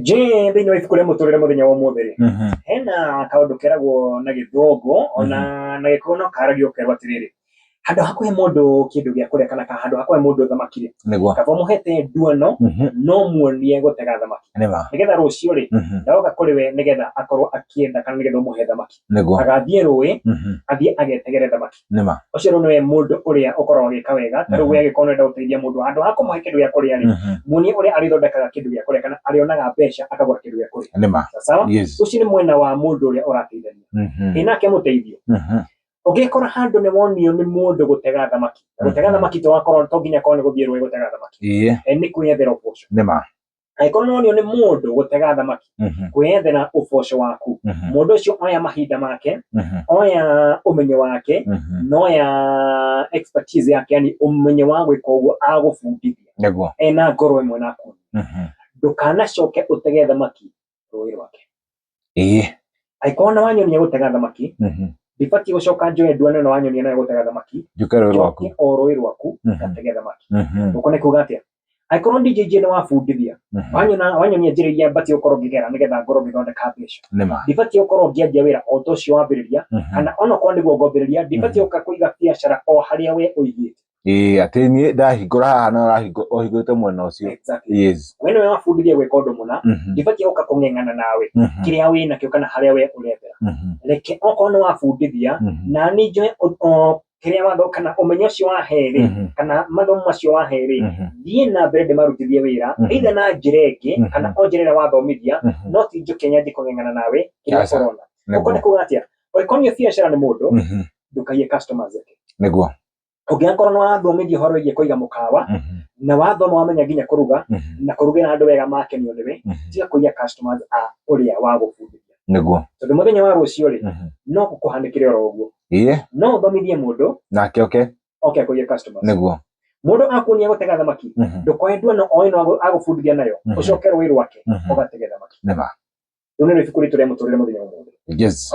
Jĩ thĩinĩ wa ibuku rĩa mũtũrĩre mũthenya wa ũmũthĩ rĩ, Mhm. hena kaũndũ keragwo na gĩthũngũ ona na gĩkũyũ no karagio ũkerwo atĩrĩrĩ, handũ ha kũhe mũndũ kĩndũ gĩa kũrĩa kana ka- handũ ha kũhe mũndũ thamaki rĩ, nĩguo kaba ũmũhete nduano Mhm. no muonie gũtega thamaki nĩma nĩgetha rũciũ rĩ Mhm. ndoka kũrĩ we nĩgetha akorwo akĩenda kana nĩgetha ũmũhe thamaki nĩguo agathiĩ rũĩ Mhm. athiĩ agetegere thamaki nĩ ma ũcio rĩu nĩwe mũndũ ũrĩa ũkoragwo agĩka wega ta rĩu Mhm. we angĩkorwo nĩwenda gũteithia mũndũ handũ ha kũmũhe kĩndũ gĩa kũrĩa rĩ Mhm. muonie ũrĩa arĩthondekaga kĩndũ gĩa kũrĩa kana arĩonaga mbeca akagũra kĩndũ gĩa kũrĩa nĩ ma Sawa sawa yes ũcio nĩ mwena wa mũndũ ũrĩa ũrateithania Mhm. ĩ nake mũteithio Mhm. ũngĩkora handũ nĩ wonio nĩ mũndũ gũtega thamaki Na gũtega Mhm. thamaki to akorwo to nginya korwo nĩ gũthiĩ rũĩ gũtega thamaki Ĩĩ, Eh, nĩ kwĩyethera ũboco nĩ ma angĩkorwo nĩ wonio nĩ mũndũ gũtega thamaki Mhm. kwĩyethera ũboco waku Mhm. mũndũ ũcio oya mahinda make Mhm. oya ũmenyo wake Mhm. noya expertise yake yani ũmenyo wa gwĩka ũguo agũbundithia nĩguo ena ngoro ĩmwe naku Mhm. ndũkanacoke ũtege thamaki rũĩ rwake ĩĩ angĩkorwo nĩ wanyonia gũtega thamaki mhm, ndibatiĩ gũcoka njoe nduano ĩno wanyonia nayo gũtega thamaki njũke rũĩ rwaku njoke o rũĩ rwaku Mhm. ngatege thamaki Mhm, ũko nĩ kuga atĩa angĩkorwo ndinjĩnjie nĩ wabundithia mhm. wanyona wanyonia njĩra iria mbatiĩ gũkorwo ngĩgera nĩgetha ngorwo ngĩthondeka mbeca nĩ ma ndibatiĩ gũkorwo ngĩanjia wĩra o ta ũcio wambĩrĩria Mhm, kana onokorwo nĩguo ngombĩrĩria ndibatiĩ gũka kũiga biacara o harĩa we ũigĩte Ĩĩ atĩ niĩ ndahingũra haha na ũrahingũra ũhingũrĩte mwena ũcio. Exactly. Yes. We nĩwe wabundithia gwĩka ũndũ mũna Mhm. ndibatiĩ gũka kũng'eng'ana nawe Mhm. kĩrĩa wĩ nakĩo kana harĩa we ũrethera Mhm. reke okorwo nĩ wabundithia Mhm. na niĩ njoe ũ- ũ- kĩrĩa watho kana ũmenyo ũcio waherĩ Mhm. kana mathomo macio waherĩ Mhm. thiĩ na mbere ndĩmarutithie wĩra Mhm. either na njĩra ĩngĩ Mhm. kana o njĩra ĩrĩa wathomithia Mhm. no ti njũke nyanjie kũng'eng'ana nawe kĩrĩa Aca. ũrona Nĩguo. ũkona kuga atĩa ũngĩkorwo nĩ biacara nĩ mũndũ Mhm. ndũkaiye customers ake Nĩguo. ũngĩgakorwo nĩ wathomithio ũhoro wĩgiĩ kũiga mũkawa Mhm. na wathoma wamenya nginya kũruga Mhm. na kũrugĩra andũ wega makenio nĩwe Mhm. tiga kũiya customers a ũrĩa wagũbundithia nĩguo tondũ mũthenya wa rũciũ rĩ Mhm. no gũkũhanĩkĩre oro ũguo ĩĩ no ũthomithie mũndũ nake oke oke akũiye customers nĩguo mũndũ akuonia gũtega thamaki Mhm. ndũkoe nduano o ĩno agũ- agũbundithia nayo Mhm. ũcoke rũĩ rwake Mhm. ũgatege thamaki nĩ ma rĩu nĩ rĩbuku ritũ rĩa mũtũrĩre mũthenya wa ũmũthĩ yes